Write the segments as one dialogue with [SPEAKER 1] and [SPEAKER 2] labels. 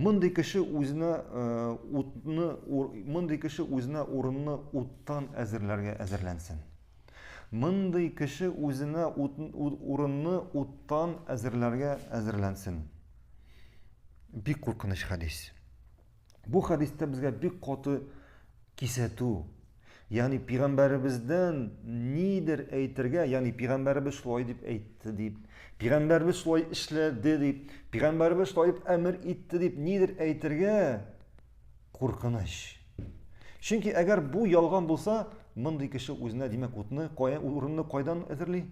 [SPEAKER 1] Мондый кеше үзенә э, утны мондый кеше үзенә урынны уттан әзерләргә әзерләнсен. Мондый кеше үзенә урынны уттан әзерләргә әзерләнсен. Бик куркыныч хәдис. Бу хәдистә безгә бик каты кисәтү, Ягъни пигамбәребездән нидер әйтергә, ягъни пигамбәребез шулай дип әйтте дип, пигамбәребез шулай эшләде дип, пигамбәребез шулай дип әмер итте дип нидер әйтергә куркыныч. Чөнки әгәр бу ялган булса, мондый кеше үзенә димәк утны, кая урынны кайдан әзерли?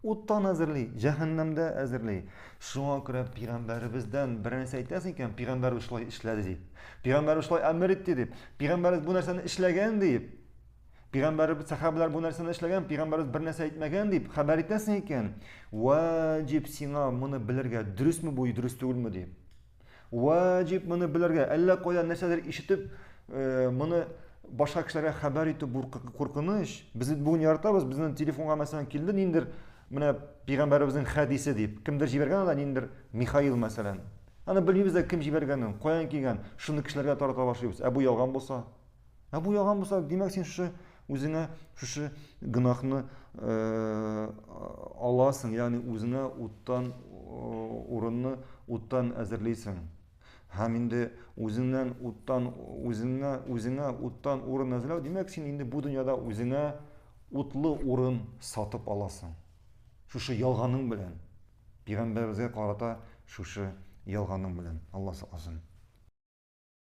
[SPEAKER 1] Уттан әзерли, җәһәннәмдә әзерли. Шуңа күрә пигамбәребездән бер нәрсә әйтәсең икән, пигамбәребез шулай эшләде дип. Пигамбәребез шулай әмер итте дип. Пигамбәребез бу нәрсәне эшләгән дип. Пигамбәребез сахабәләр бу нәрсәне эшләгән, пигамбәребез бер нәрсә әйтмәгән дип хәбәр итәсең икән, ваҗиб сиңа моны белергә, дөресме бу, дөрес түгелме дип. Ваҗиб моны белергә, әллә кайдан нәрсәдер ишетеп, э, моны башка кешеләргә хәбәр итү куркыныч. Без бит бүген яратабыз, безнең телефонга мәсәлән килде ниндер менә пәйгамбәребезнең хәдисе дип. Кемдер җибәргән анда ниндер Михаил мәсәлән. Аны белмибез дә кем җибәргәнен, каян килгән, шуны кешеләргә тарата башлыйбыз. Ә бу ялган булса? Ә бу ялган булса, димәк син шушы Үзеңә шушы гөнаһны аласың, ягъни үзеңә уттан урынны уттан әзерлисең. Һәм инде үзеңнән уттан үзеңә үзеңә уттан урын әзерләү, димәк, син инде бу дөньяда үзеңә утлы урын сатып аласың. Шушы ялганың белән пигамбәребезгә карата шушы ялганың белән Алла сакласын.